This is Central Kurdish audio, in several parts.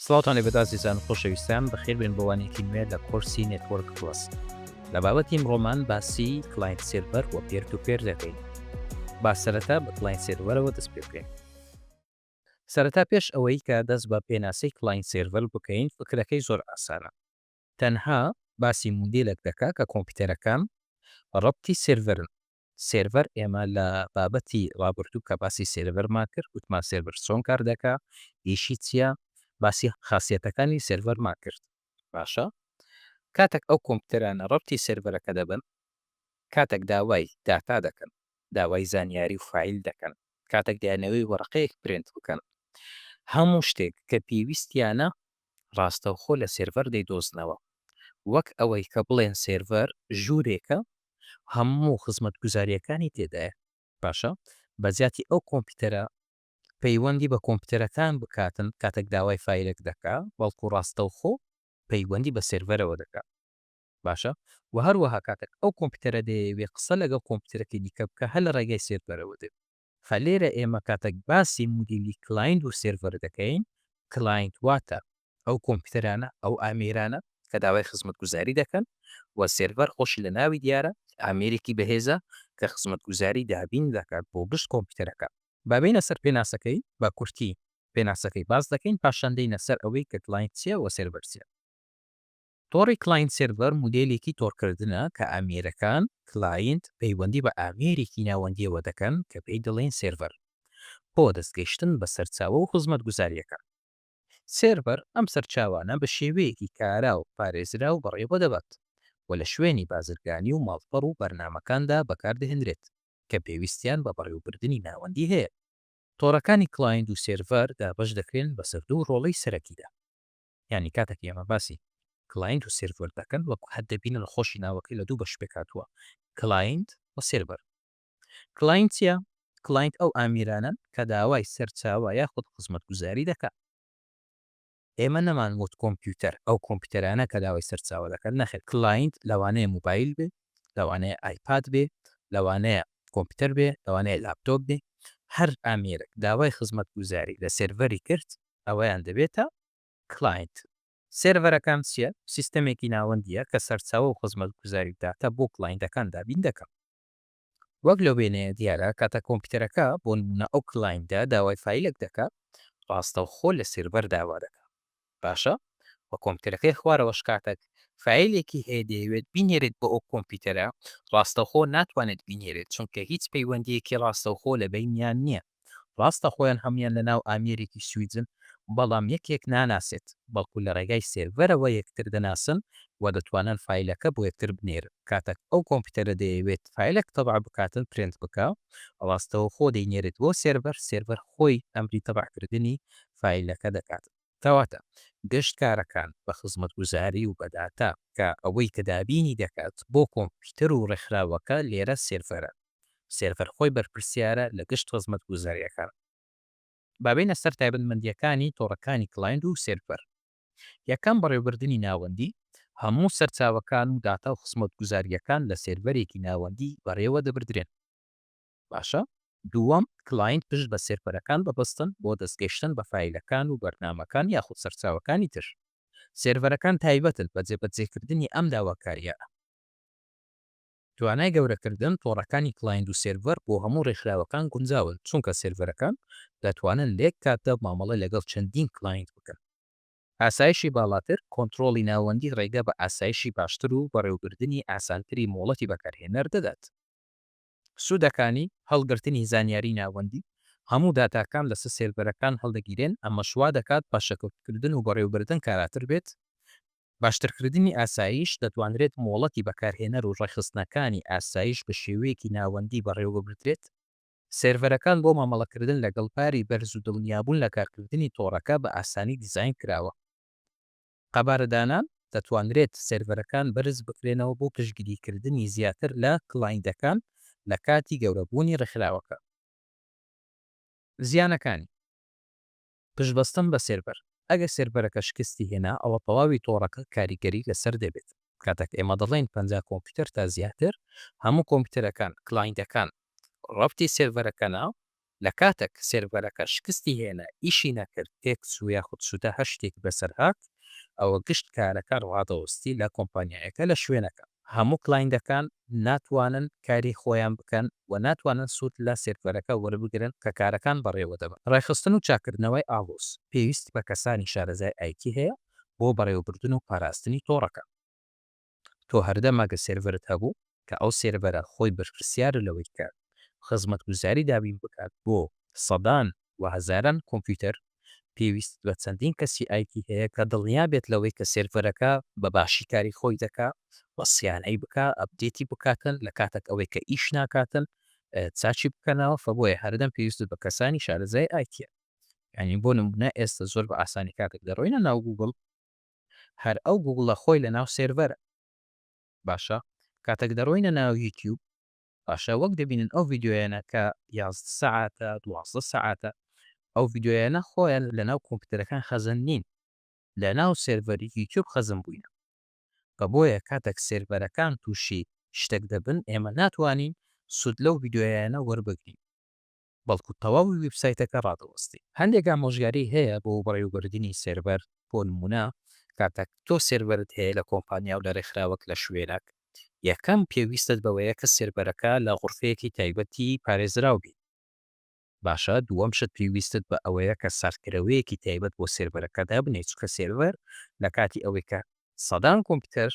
سڵاوتان لێبێت ئازیزان و خۆشەویستان، بەخێربێن بۆ وانەیەکی نوێ لە کۆرسی نێتوۆرک پڵەس. لە بابەتی ئمڕۆمان باسی کلاینت سێرڤەر و پێر تو پێر دەکەین. با سەرەتا بە کلاینت سێرڤەرەوە دەست پێ بکەین. سەرەتا پێش ئەوەی کە دەست بە پێناسەی کلاینت سێرڤەر بکەین فکرەکەی زۆر ئاسانە. تەنها باسی مودێلەک دەکا کە کۆمپیوتەرەکان ڕەبتی سێرڤەرن. سێرڤەر ئێمە لە بابەتی ڕابردوو کە باسی سێرڤەرمان کرد گوتمان سێرڤەر چۆن کار دەکا ئیشی چیە باسی خاسیەتەکانی سێرڤەرمان کرد باشە کاتەک ئەو کۆمپیوتەرانە ڕەبتی سێرڤەرەکە دەبن کاتەک داوای داتا دەکەن داوای زانیاری و فایل دەکەن کاتەک دەیانەوێ وەرەقەیەک پرێنت بکەن هەموو شتێک کە پێویستیانە ڕاستەوخۆ لە سێرڤەر دەیدۆزنەوە، وەک ئەوەی کە بڵێن سێرڤەر ژوورێکە هەموو خزمەتگوزارییەکانی تێدایە. باشە بە جیاتی ئەو کۆمپیوتەرە پەیوەندی بە کۆمپیوتەرەکان بکاتن کاتەک داوای فایلەک دەکا بەڵکو ڕاستەوخۆ پەیوەندی بە سێرڤەرەوە دەکا باشە وە هەروەها کاتەک ئەو کۆمپیوتەرە دەیەوێ قسە لەگەڵ کۆمپیوتەرەکەی دیکە بکا هەر لە ڕێگای سێرڤەرەوە دەبێ خە لێرە ئێمە کاتەک باسی مودیلی کلایند و سێرڤەر دەکەین، کلایند واتە ئەو کۆمپیوتەرانە، ئەو ئامێرانە کە داوای خزمەتگوزاری دەکەن و سێرڤەر خۆشی لە ناوی دیارە، ئامێرێکی بەهێزە کە خزمەتگوزاری دابین دەکات بۆ گشت کۆمپیوتەرەکان. با بێینە سەر پێناسەکەی، بە کورتی پێناسەکەی باس دەکەین، پاشان دێینە سەر ئەوەی کە کلایند چییە و سێرڤەر چییە. تۆڕی کلاینت سێرڤەر مودێلێکی تۆڕکردنە کە ئامێرەکان، کلاینت، پەیوەندی بە ئامێرێکی ناوەندییەوە دەکەن کە پێی دەڵێین سێرڤەر بۆ دەستگەیشتن بە سەرچاوە و خزمەتگوزارییەکان. سێرڤەر ئەم سەرچاوانە بە شێوەیەکی کارا و پارێزراو بەڕێوە دەبات و لە شوێنی بازرگانی و ماڵپەڕ و بەرنامەکاندا بەکاردەهێنرێت کە پێویستیان بە بەڕێوەبردنی ناوەندی هەیە. تۆڕەکانی کلاینت و سێرڤەر دابەش دەکرێن بەسەر دوو ڕۆڵی سەرەکیدا. یانی کاتەک ئێمە باسی کلاینت و سێرڤەر دەکەن وەک هەر دەبینن خۆشی ناوەکەی لە دوو بەش پێکهاتووە کلاینت و سێرڤەر. کلاینت چیە؟ کلاینت ئەو ئامیرانەن کە داوای سەرچاوە یاخود خزمەتگوزاری دەکەن. ئێمە نەمان وت کۆمپیوتەر ئەو کۆمپیوتەرانە کە داوای سەرچاوە دەکەن نەخێر کلاینت لەوانەیە موبایل بێ لەوانەیە ئایپاد بێ لەوانەیە کۆمپیوتەر بێ لەوانەیە لاپتۆپ بێ هەر ئامێرێک داوای خزمەتگوزاری لە سێرڤەری کرد ئەوەیان دەبێتە کلاینت. سێرڤەرەکان چیە؟ سیستەمێکی ناوەندیە کە سەرچاوە و خزمەتگوزاری و داتا بۆ کلاینتەکان دابین دەکات. وەک لەو وێنەیە دیارە کاتە کۆمپیوتەرەکە بۆ نمونە ئەو کلاینتە داوای فایلەک دەکا ڕاستەوخۆ لە سێرڤەر داوا دەکا باشە وە کۆمپیوتەرەکەی خوارەوەش کاتەک فایلێکی هەیە دەیەوێت بینێرێت بۆ ئەو کۆمپیوتەرە ڕاستەوخۆ ناتوانێت بینێرێت چونکە هیچ پەیوەندیەکی ڕاستەوخۆ لە بەینیان نیە. ڕاستە خۆیان هەموویان لە ناو ئامێرێکی سویدن، بەڵام یەکێک ناناسێت، بەڵکو لە ڕێگای سێرڤەرەوە یەکتر دەناسن و دەتوانن فایلەکە بۆ یەکتر بنێرن. کاتەک ئەو کۆمپیوتەرە دەیەوێت فایلەک تەبع بکات و پرینت بکا، ڕاستەوخۆ دەینێرێت بۆ سێرڤەر، سێرڤەر خۆی ئەمری تەبع کردنی فایلەکە دەکات. کەواتە گشت کارەکان بە خزمەتگوزاری و بە داتا، کە ئەوەی کە دابینی دەکات بۆ کۆمپیوتەر و ڕێکخراوەکە لێرە سێرڤەرە، سێرڤەر خۆی بەرپرسیارە لە گشت خزمەتگوزارییەکان. با بێینە سەر تایبەتمەندییەکانی تۆڕەکانی کڵایند و سێرڤەر. یەکەم، بەڕێوەبردنی ناوەندی، هەموو سەرچاوەکان و داتا و خزمەتگوزارییەکان لە سێرڤەرێکی ناوەندی بەڕێوە دەبردرێن. باشە. دووەم، کلاینت پشت بە سێرڤەرەکان ببەستن بۆ دەستگەیشتن بە فایلەکان و بەرنامەکان یاخود سەرچاوەکانی تر. سێرڤەرەکان تایبەتن بە جێبەجێکردنی ئەم داواکارییانە. توانای گەورەکردن، تۆڕەکانی کلاینت و سێرڤەر بۆ هەموو ڕێکخراوەکان گونجاون، چونکە سێرڤەرەکان دەتوانن لە یەک کاتدا مامەڵە لەگەڵ چەندین کلاینت بکەن. ئاسایشی باڵاتر، کۆنترۆڵی ناوەندی ڕێگە بە ئاسایشی باشتر و بەڕێوەبردنی ئاسانتری مۆڵەتی بەکارهێنەر دەدات. سوودەکانی هەڵگرتنی زانیاری ناوەندی، هەموو داتاکان لەسەر سێرڤەرەکان هەڵدەگیرێن، ئەمەش وا دەکات پاشەکەوتکردن و بەڕێوەبردن کاراتر بێت. باشترکردنی ئاسایش، دەتوانرێت مۆڵەتی بەکارهێنەر و ڕێکخستنەکانی ئاسایش بە شێوەیەکی ناوەندی بەڕێوەببردرێت. سێرڤەرەکان بۆ مامەڵەکردن لەگەڵ باری بەرز و دڵنیابوون لە کارکردنی تۆڕەکە بە ئاسانی دیزاین کراوە. قەبارەدانان، دەتوانرێت سێرڤەرەکان بەرز بکرێنەوە بۆ پشتگیریکردنی زیاتر لە کڵایندەکان لە کاتی گەورەبوونی ڕێکخراوەکە. زیانەکانی پشتبەستن بە سێرڤەر، ئەگەر سێرڤەرەکە شکستی هێنا ئەوە تەواوی تۆڕەکە کاریگەری لەسەر دەبێت، کاتێک ئێمە دەڵێین پەنجا کۆمپیوتەر تا زیاتر، هەموو کۆمپیوتەرەکان، کڵایندەکان، ڕەبتی سێرڤەرەکەنە، لە کاتەک سێرڤەرەکە شکستی هێنا ئیشی نەکرد تێکچوو یاخود شتە هەر شتێکی بەسەر هات ئەوە گشت کارەکە ڕادەوستی لە کۆمپانیایەکە لە شوێنەکە هەموو کلاینتەکان ناتوانن کاری خۆیان بکەن و ناتوانن سوود لە سێرڤەرەکە وەربگرن کە کارەکان بەڕێوە دەبەن. ڕێکخستن و چاککردنەوەی ئاڵۆز پێویستی بە کەسانی شارەزای ئایتی هەیە بۆ بەڕێوەبردن و پاراستنی تۆڕەکە. تۆ هەردەمەکە سێرڤەرت هەبوو کە ئەو سێرڤەرە خۆی بەرپرسیارە لەوەی کە خزمەتگوزاری دابین بکات بۆ سەدان و هەزاران کۆمپیوتەر، پێویستت بە چەندین کەسی ئایتی هەیە کە دڵنیا بێت لەوەی کە سێرڤەرەکە بە باشی کاری خۆی دەکا و سیانەی بکا، ئەپدێتی بکاتن لە کاتەک ئەوەی کە ئیش ناکاتن چاکی بکەنەوە، فە بۆیە هەردەم پێویستت بە کەسانی شارەزای ئایتیە. یانی بۆ نموونە ئێستە زۆر بە ئاسانی کاتەک دەڕۆینە ناو گووگڵ، هەر ئەو گووگڵە خۆی لە ناو سێرڤەرە. باشە کاتەک دەڕۆینە ناو یوتیوب باشە وەک دەبینن ئەو ڤیدیۆیانە کە یازدە سەعاتە دوازدە سەعاتە ئەو ڤیدیۆیانە خۆیان لە ناو کۆمپیوتەرەکان خەزن نین لە ناو سێرڤەری یوتیوب خەزن بووینە بە بۆیە کاتەک سێرڤەرەکان تووشی شتەک دەبن ئێمە ناتوانین سوود لەو ڤیدیۆیانە وەربگرین. بەڵکو تەواوی وێبسایتەکە ڕادەوەستی. هەندێک ئامۆژگاری هەیە بۆ بەڕێوەبردنی سێرڤەر، بۆ نموونە کاتەک تۆ سێرڤەرت هەیە لە کۆمپانیا و لە ڕێکخراوەک لە شوێنەک، یەکەم پێویستت بەوەیە کە سێرڤەرەکە لە غورفەیەکی تایبەتی پارێزراو بیت. باشە دووەم شت پێویستت بە ئەوەیە کە ساردکەرەوەیەکی تایبەت بۆ سێرڤەرەکە دابنێیت چونکە سێرڤەر لە کاتی ئەوەی کە سەدان کۆمپیوتەر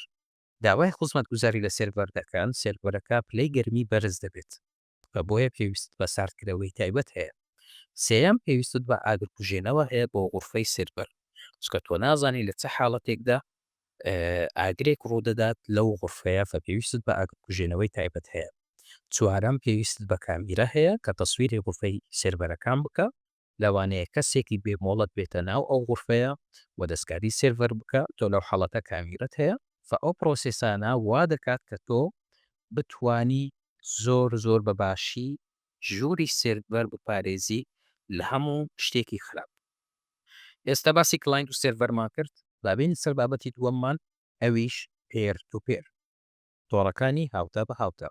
داوای خوزمەتگوزاری لە سێرڤەر دەکەن سێرڤەرەکە پلەی گەرمی بەرز دەبێت. کە بۆیە پێویستت بە ساردکرەوەی تایبەت هەیە. سێیەم، پێویستت بە ئاگرکوژێنەوە هەیە بۆ غورفەی سێرڤەر، چونکە تۆ نازانی لە چ حاڵەتێکدا ئاگرێک ڕوودەدات لەو غورفەیە، فە پێویستت بە ئاگرکوژێنەوەی تایبەت هەیە. چوارەم، پێویستت بە کامیرە هەیە کە تەسویری غورفەی سێرڤەرەکان بکا. لەوانەیە کەسێکی بێ مۆڵەت بێتە ناو ئەو غورفەیە و دەستکاری سێرڤەر بکا تۆ لەو حاڵەتە کامیرەت هەیە فە ئەو پرۆسێسانە وا دەکات کە تۆ بتوانی زۆر زۆر بە باشی ژووری سێرڤەر بپارێزی لە هەموو شتێکی خراپ ئێستا باسی کلاینت و سێرڤەرمان کرد با بێین سەر بابەتی دووەممان ئەویش پێر تو پێر. تۆڕەکانی هاوتا بە هاوتا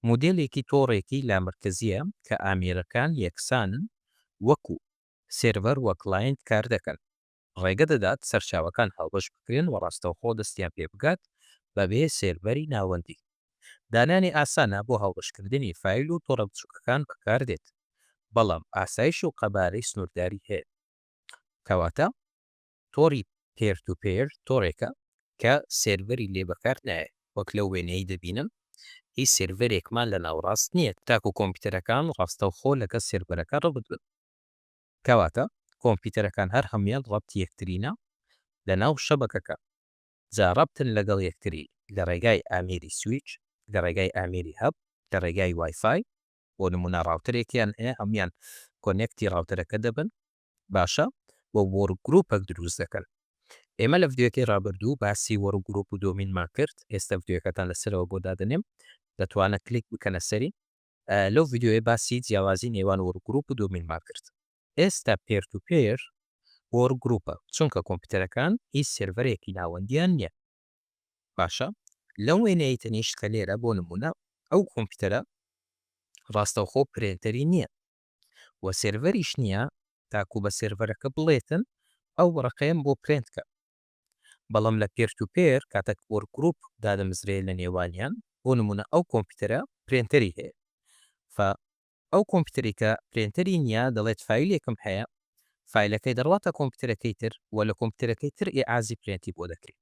مودێلێکی تۆڕێکی لامەرکەزییە کە ئامێرەکان یەکسانن وەکو سێرڤەر و کلاینت کار دەکەن، ڕێگە دەدات سەرچاوەکان هاوبەش بکرێن و ڕاستەوخۆ دەستیان پێ بگات بەبێ سێرڤەری ناوەندی. دانانی ئاسانە بۆ هاوبەشکردنی فایل و تۆڕە بچووکەکان بەکار دێت، بەڵام ئاسایش و قەبارەی سنوورداری هەیە. کەواتە تۆڕی پێر تو پێر تۆڕێکە کە سێرڤەری لێ بەکار نایەت، وەک لەو وێنەیەی دەبینن هیچ سێرڤەرێکمان لە ناوەڕاست نییە تاکو کۆمپیوتەرەکان ڕاستەوخۆ لەگەڵ سێرڤەرەکە ڕەبت بن، کەواتە کۆمپیوتەرەکان هەر هەموویان ڕەبتی یەکترینە لەناو شەبەکەکە جا ڕەبتن لەگەڵ یەکتری لە ڕێگای ئامێری سویچ، لە ڕێگای ئامێری هەب، لە ڕێگای وای فای، بۆ نموونە ڕاوتەرێکیان هەیە هەموویان کۆنێکتی ڕاوتەرەکە دەبن باشە بۆ وۆرک گروپەک دروست دەکەن؟ ئێمە لە ڤیدیۆکەی ڕابردوو باسی وۆرک گروپ و دۆمینمان کرد ئێستە ڤیدیۆکەتان لەسەرەوە بۆ دادەنێم دەتوانە کلیک بکەنە سەری لەو ڤیدیۆیە باسی جیاوازی نێوان وۆرک گروپ و دۆمینمان کرد ئێستە پێر تو پێر وۆرک گروپە چونکە کۆمپیوتەرەکان هیچ سێرڤەرێکی ناوەندیان نییە باشە لەو وێنەی تەنیشت کە لێرە بۆ نمونە ئەو کۆمپیوتەرە ڕاستەوخۆ پرێنتەری نییە و سێرڤەریش نییە تاکو بە سێرڤەرەکە بڵێتن ئەو وەڕەقەیەم بۆ پرێنت کە بەڵام لە پێر تو پێر کاتەک وۆرک گروپ دادەمزرێ لە نێوانیان بۆ نمونە ئەو کۆمپیتەرە پرێنتەری هەیە فە ئەو کۆمپیتەری کە پرێنتەری نییە دەڵێت فایلێکم هەیە فایلەکەی دەڕواتە کۆمپیتەرەکەی تر و لە کۆمپیتەرەکەی تر ئیعازی پرێنتی بۆ دەکرێ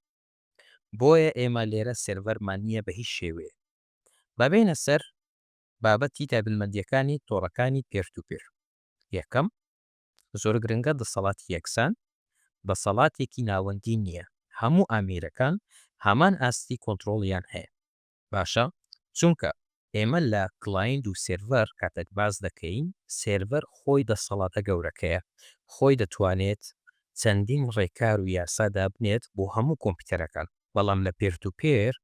بۆیە ئێمە لێرە سێرڤەرمان نییە بە هیچ شێوەیەک با بێینە سەر بابەتی تایبەتمەندییەکانی تۆڕەکانی پێشتوپێش یەکەم، زۆرگرنگە دەسەڵاتی یەکسان دەسەڵاتێکی ناوەندی نییە، هەموو ئامێرەکان هەمان ئاستی کۆنترۆڵیان هەیە. باشە چونکە ئێمە لە کڵایند و سێرڤەر کاتێک باس دەکەین، سێرڤەر خۆی دەسەڵاتە گەورەکەیە، خۆی دەتوانێت چەندین ڕێکار و یاسا دابنێت بۆ هەموو کۆمپیوتەرەکان، بەڵام لە پێرتوپێر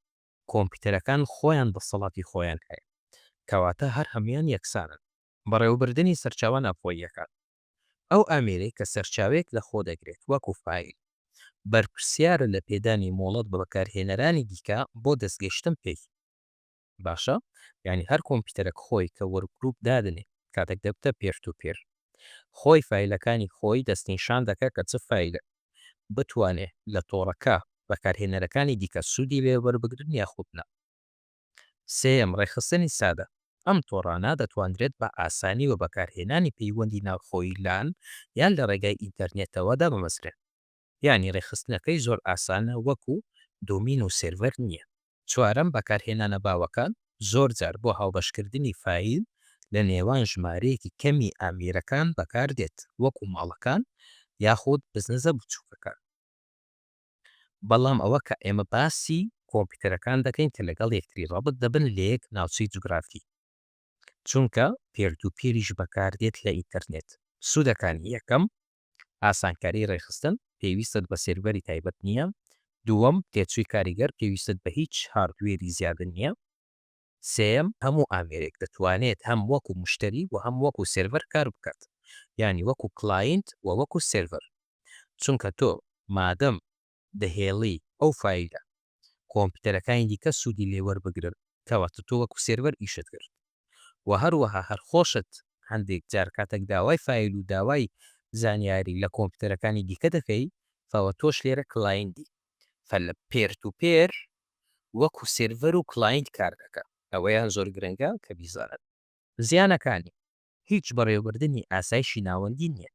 کۆمپیوتەرەکان خۆیان دەسەڵاتی خۆیان هەیە، کەواتە هەر هەموویان یەکسانن. بەڕێوەبردنی سەرچاوە ناوخۆییەکان، ئەو ئامێرەی کە سەرچاوەیەک لەخۆدەگرێت وەکو فایل، بەرپرسیارە لە پێدانی مۆڵەت بە بەکارهێنەرانی دیکە بۆ دەستگەیشتن پێی. باشە یانی هەر کۆمپیوتەرەک خۆی کە وەرکگروپ دادنێ کاتەک دەبتە پێر تو پێر خۆی فایلەکانی خۆی دەستنیشان دەکا کە چ فایلەک بتوانێت لە تۆڕەکە بەکارهێنەرەکانی دیکە سوودی لێ وەربگرن یاخود نا. سێیەم، ڕێکخستنی سادە، ئەم تۆڕانە دەتوانرێت بە ئاسانی و بەکارهێنانی پەیوەندی ناوخۆیی لان یان لە ڕێگای ئینتەرنێتەوە دابمەزرێن. یانی ڕێکخستنەکەی زۆر ئاسانە وەکو دۆمین و سێرڤەر نییە. چوارەم، بەکارهێنانە باوەکان، زۆرجار بۆ هاوبەشکردنی فایل لە نێوان ژمارەیەکی کەمی ئامێرەکان بەکاردێت، وەکو ماڵەکان یاخود بزنزە بچووکەکان. بەڵام ئەوە کە ئێمە باسی کۆمپیوتەرەکان دەکەین کە لەگەڵ یەکتری ڕابط دەبن لە یەک ناوچەی جوگرافی، چونکە پێردوپێریش بەکاردێت لە ئینتەرنێت. سوودەکانی، یەکەم، ئاسانکاری ڕێکخستن پێویستت بە سێرڤەری تایبەت نییە، دووەم، تێچووی کاریگەر پێویستت بە هیچ هاردوێری زیادە نییە، سێیەم، هەموو ئامێرێک دەتوانێت هەم وەکو مشتەری و هەم وەکو سێرڤەر کار بکات، یانی وەکو کلاینت و وەکو سێرڤەر، چونکە تۆ مادەم دەهێڵی ئەو فایلە کۆمپیوتەرەکانی دیکە سوودی لێ وەربگرن کەواتە تۆ وەکو سێرڤەر ئیشت کرد وە هەروەها هەر خۆشت هەندێک جار کاتەک داوای فایل و داوای زانیاری لە کۆمپیوتەرەکانی دیکە دەکەی فەوە تۆش لێرە کلایندی فە لە پێر تو پێر وەکو سێرڤەر و کلایند کار دەکا ئەوەیان زۆر گرنگە کە بیزانن. زیانەکانی، هیچ بەڕێوەبردنی ئاسایشی ناوەندی نییە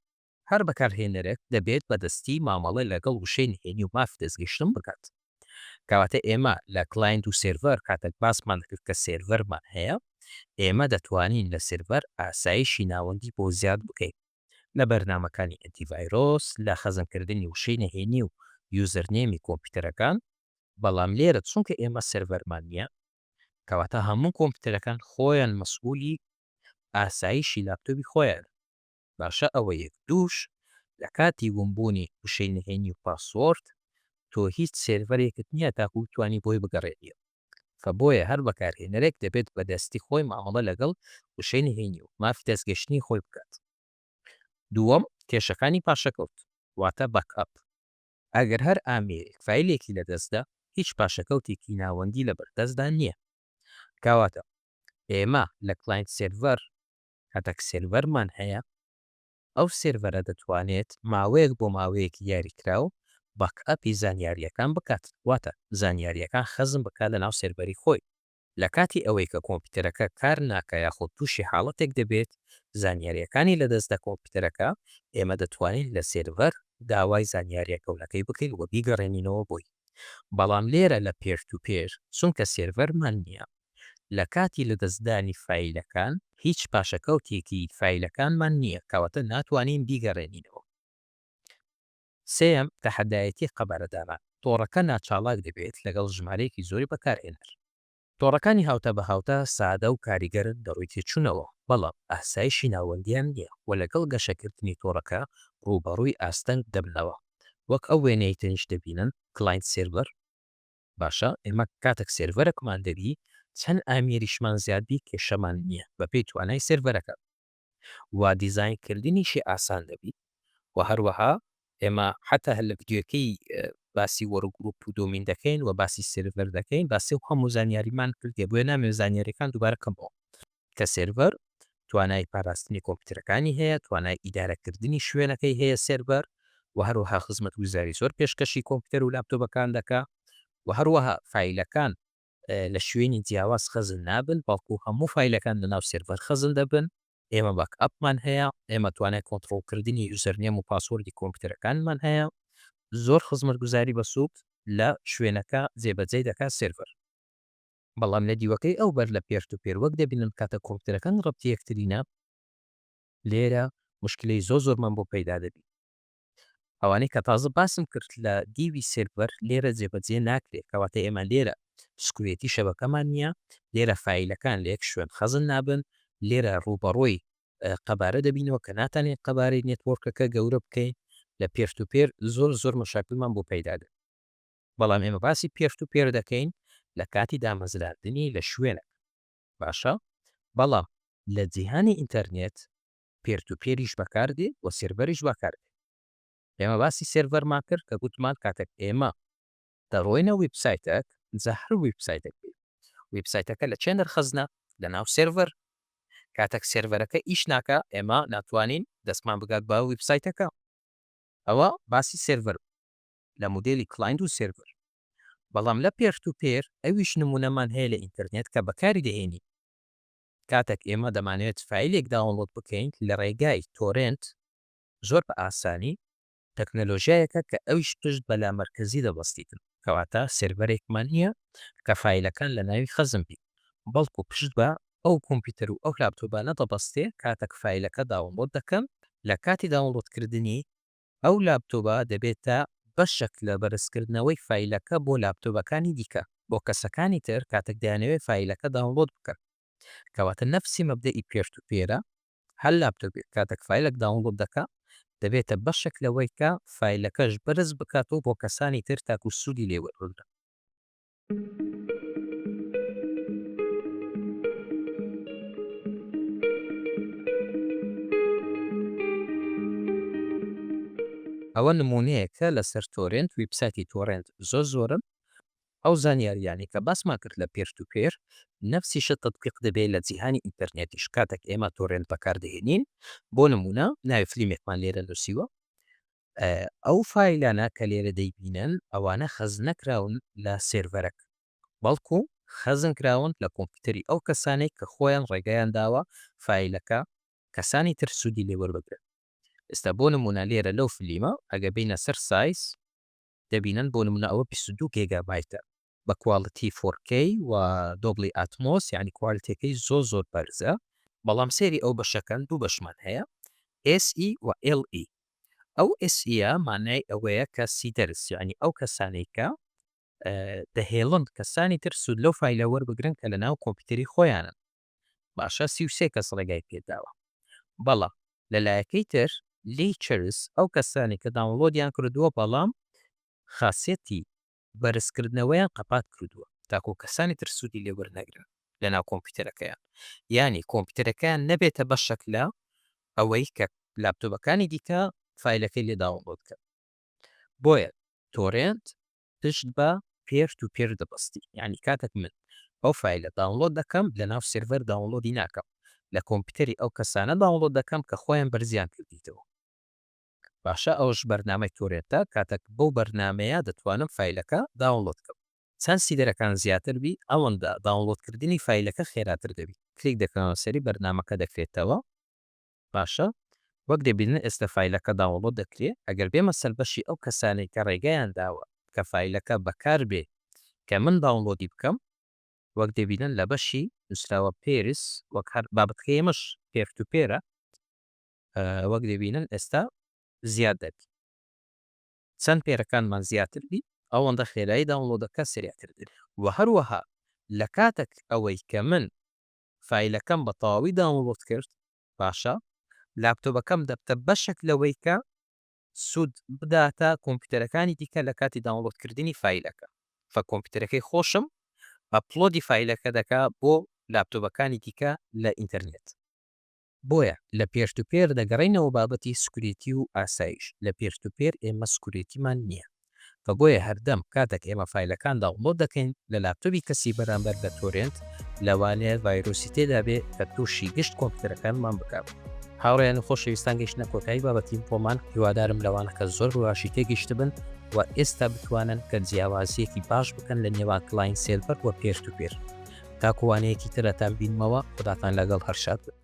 هەر بەکارهێنەرێک دەبێت بەدەستی مامەڵە لەگەڵ وشەی نهێنی و مافی دەستگەیشتن بکات. کەواتە ئێمە لە کلاینت و سێرڤەر کاتێک باسمان دەکرد کە سێرڤەرمان هەیە، ئێمە دەتوانین لە سێرڤەر ئاسایشی ناوەندی بۆ زیاد بکەین، لە بەرنامەکانی ئەنتیڤایرۆس، لە خەزنکردنی وشەی نهێنی و یوزەرنێمی کۆمپیوتەرەکان، بەڵام لێرە چونکە ئێمە سێرڤەرمان نییە، کەواتە هەموو کۆمپیوتەرەکان خۆیان مەسئوولی ئاسایشی لاپتۆپی خۆیانن. باشە ئەوە یەک دووش لە کاتی ون بوونی وشەی نهێنی و پاسۆرد تۆ هیچ سێرڤەرێکت نیە تاکو بتوانی بۆی بگەڕێنیەوە فە بۆیە هەر بەکارهێنەرێک دەبێت بە دەستی خۆی مامەڵە لەگەڵ وشەی نهێنی و مافی دەستگەشتنی خۆی بکات دووەم کێشەکانی پاشەکەوت واتە باک ئەپ ئەگەر هەر ئامێرێک فایلێکی لە دەست دا هیچ پاشەکەوتێکی ناوەندی لە بەردەستدا نیە کاواتە ئێمە لە کلاینت سێرڤەر کاتێک سێرڤەرمان هەیە ئەو سێرڤەرە دەتوانێت ماوەیەک بۆ ماوەیەکی دیاریکراو باک ئەپی زانیارییەکان بکات واتە زانیارییەکان خەزن بکات لە ناو سێرڤەری خۆی لە کاتی ئەوەی کە کۆمپیوتەرەکە کار ناکا یاخود تووشی حاڵەتێک دەبێت زانیارییەکانی لەدەست دە کۆمپیوتەرەکە ئێمە دەتوانین لە سێرڤەر داوای زانیارییە کەونەکەی بکەین و بیگەڕێنینەوە بۆی بەڵام لێرە لە پێر تو پێر چونکە سێرڤەرمان نییە لە کاتی لەدەستدانی فایلەکان هیچ پاشەکەوتێکی فایلەکانمان نییە کەواتە ناتوانین بیگەڕێنینەوە. سێیەم، تەحەدایەتی قەبارەدانان، تۆڕەکە ناچاڵاک دەبێت لەگەڵ ژمارەیەکی زۆری بەکارهێنەر. تۆڕەکانی هاوتا بە هاوتا سادە و کاریگەرن لە ڕووی تێچوونەوە، بەڵام ئاسایشی ناوەندیان نییە و لەگەڵ گەشەکردنی تۆڕەکە ڕووبەڕووی ئاستەنگ دەبنەوە، وەک ئەو وێنەیەی تەنیشت دەبینن، کلاینت سێرڤەر. باشە ئێمە کاتەک سێرڤەرەکمان دەبی چەن ئامیریشمان زیاد بی کێشەمان نیە بەپێی توانای سێرڤەرەکە و دیزاین کردنیشی ئاسان دەبی و هەروەها ئێمە حەتا هەر لە ڤیدیۆکەی باسی وەرگروپ و دۆمین دەکەین و باسی سێرڤەر دەکەین باسی و هەموو زانیاریمان کردیە بۆیە نامەوێ زانیاریەکان دوبارە کەمەوە. کە سێرڤەر توانای پاراستنی کۆمپیوتەرەکانی هەیە، توانای ئیدارەکردنی شوێنەکەی هەیە سێرڤەر و هەروەها خزمەتگوزاری زۆر پێشکەشی کۆمپیوتەر و لاپتۆپەکان دەکا و هەروەها فایلەکان لە شوێنی جیاواز خەزن نابن بەڵکو هەموو فایلەکان لەناو سێرڤەر خەزن دەبن، ئێمە باک ئەپمان هەیە، ئێمە توانای کۆنتڕۆڵکردنی یوزەرنێم و پاسۆردی کۆمپیوتەرەکانمان هەیە، زۆر خزمەتگوزاری بەسوود لە شوێنەکە جێبەجێی دەکا سێرڤەر. بەڵام لە دیوەکەی ئەو بەر لە پێشت و پێر وەک دەبینن کاتە کۆمپیوتەرەکان ڕەبتی یەکترینە لێرە موشکیلەی زۆر زۆرمان بۆ پەیدا دەبی ئەوانەی کە تازە باسم کرد لە دیوی سێرڤەر لێرە جێبەجێ ناکرێت کەواتە ئێمە لێرە سکوێتی شەبەکەمان نییە لێرە فایلەکان لە یەک شوێن خەزن نابن لێرە ڕووبەڕۆی قەبارە دەبینەوە کە ناتانێت قەبارەی نێتۆرکەکە گەورە بکەین لە پێرت و پێر زۆر زۆر مەشاکلمان بۆ پەیدا دەبێت بەڵام ئێمە باسی پێشت و پێر دەکەین لە کاتی دامەزراندنی لە شوێنەک باشە بەڵام لە جیهانی ئینتەرنێت پێرت و پێریش بەکاردێ و سێرڤەریش بەکاردێ ئێمە باسی سێرڤەرمان کرد کە گوتمان کاتێک ئێمە دەڕۆینە ویبسایتەک جا هەر ویبسایتەک بێت ویبسایتەکە لە چێ نرخەزنە لە ناو سێرڤەر کاتێک سێرڤەرەکە ئیش ناکە ئێمە ناتوانین دەستمان بگات بە ویبسایتەکە ئەوە باسی سێرڤەر لە مودێلی کڵاینت و سێرڤەر بەڵام لە پێرتوپێر ئەویش نمونەمان هەیە لە ئینتەرنێت کە بەکاری دەهێنین کاتەک ئێمە دەمانەوێت فایلێک داونڵۆد بکەین لە ڕێگای تۆرێنت زۆر بە ئاسانی تەکنەلۆژیایەکە کە ئەویش پشت بە لامەرکەزی دەبەستیتن کەواتە سێرڤەرێکمان نییە کە فایلەکان لە ناوی خەزن بی بەڵکو پشت بە ئەو کۆمپیوتەر و ئەو لاپتۆبانە دەبەستێ کاتەک فایلەکە داونڵۆد دەکەم لە کاتی داونڵۆدکردنی ئەو لاپتۆبە دەبێتە بەشێک لە بەرزکردنەوەی فایلەکە بۆ لاپتۆبەکانی دیکە بۆ کەسەکانی تر کاتێک دەیانەوێت فایلەکە داونڵۆد بکەن کەواتە نەفسی مەبدەئی پێشت و پێرە هەر لاپتۆبێک کاتێک فایلەک داونڵۆد دەکا دەبێتە بەشێک لەوەی کە فایلەکەش بەرز بکاتەوە بۆ کەسانی تر تاکو سوودی لێ وەربگرن. ئەوە نمونەیەکە لەسەر تۆرێنت ویبسایتی تۆرێنت زۆر زۆرن ئەو زانیاریانەی کە باسمان کرد لە پێر تو پێر نەفسیشە تەتبیق دەبێ لە جیهانی ئینتەرنێتیش کاتەک ئێمە تۆرێنت بەکاردەهێنین بۆ نمونە ناوی فلیمێکمان لێرە نوسیوە ئەو فایلانە کە لێرە دەیبینن ئەوانە خەزن نەکراون لە سێرڤەرەک بەڵکو خەزن کراون لە کۆمپیوتەری ئەو کەسانەی کە خۆیان ڕێگەیان داوە فایلەکە کەسانی تر سودی لێ وەربگرن ئێستا بۆ نمونە لێرە لەو فلیمە ئەگەر بێینە سەر سایز دەبینن بۆ نمونە ئەوە بیست و دوو گێگا بایتە بە کواڵیتی فۆر کەی و دۆڵبی ئاتمۆس یانی کوالیتیەکەی زۆر زۆر بەرزە بەڵام سێری ئەو بەشەکەن دوو بەشمان هەیە SE و LE ئەو SE مانای ئەوەیە کە سیدەرس یعنی ئەو کەسانەی کە دەهێڵن کەسانی تر سوود لەو فایلە وەربگرن کە لە ناو کۆمپیوتەری خۆیانن باشە سی و سێ کەس ڕێگای پێداوە بەڵام لە لایەکەی تر لێی چرس ئەو کەسانەی کە داونڵۆدیان کردووە بەڵام خاسیەتی بەرز کردنەوەیان قەپات کردووە تاکوو کەسانی تر سوودی لێ وەرنەگرن لە ناو کۆمپیوتەرەکەیان یانی کۆمپیوتەرەکەیان نەبێتە بەشەک لە ئەوەی کە لاپتۆبەکانی دیکە فایلەکەی لێ داونڵۆد کەن بۆیە تۆرێنت پشت بە پێر تو پێر دەبەستی یانی کاتەک من ئەو فایلە داونڵۆد دەکەم لە ناو سێرڤەر داونڵۆدی ناکەم لە کۆمپیوتەری ئەو کەسانە داونڵۆد دەکەم کە خۆیان بەرزیان کردیتەوە باشە ئەوش بەرنامەی تۆرێنتە کاتەک بەو بەرنامەیە دەتوانم فایلەکە داونڵۆد کەم چەند سیدەرەکان زیاتر بی ئەوەندە داونڵۆد کردنی فایلەکە خێراتر دەبی کلیک دەکەمەوە سەری بەرنامەکە دەکرێتەوە. باشە وەک دەبینن ئێستا فایلەکە داونڵۆد دەکرێ ئەگەر بێمە سەر بەشی ئەو کەسانەی کە ڕێگایان داوە کە فایلەکە بەکار بێ کە من داونڵۆدی بکەم وەک دەبینن لە بەشی نوسراوە پێرس وەک هەر بابەتەکەی ئێمەش پێر تو پێرە وەک دەبینن ئێستا زیاد دەبی چەند پێرەکانمان زیاتر بی ئەوەندە خێرایی داونڵۆدەکە سریعتر دەبێ و هەروەها لە کاتەک ئەوەی کە من فایلەکەم بە تەواوی داونڵۆد کرد باشە لاپتۆبەکەم دەبتە بەشێک لەوەی کە سود بداتە کۆمپیوتەرەکانی دیکە لە کاتی داونڵۆد کردنی فایلەکە فە کۆمپیوتەرەکەی خۆشم ئەپلۆدی فایلەکە دەکا بۆ لاپتۆبەکانی دیکە لە ئینتەرنێت. بۆیە لە پێشتوپێر دەگەڕێینەوە بابەتی سکورێتی و ئاسایش لە پێشتوپێر ئێمە سکورێتیمان نییە و بۆیە هەردەم کاتەک ئێمە فایلەکان داونڵۆد دەکەین لە لاپتۆبی کەسی بەرامبەر لە تۆرێنت لەوانەیە ڤایرۆسی تێدا بێ کە تووشی گشت کۆمپیوتەرەکانمان بکات. هاوڕێیان و خۆشەویستان گەیشتنە کۆتایی بابەتی ئینفۆمان هیوادارم لەوانەکە زۆر بەباشی تێگەیشتبن و ئێستا بتوانن کە جیاوازیەکی باش بکەن لە نێوان کلاین سێرڤەر و پێشتوپێر تاکوانەیەکی ترەتان بینمەوە خوداتان لەگەڵ هەرشاد بن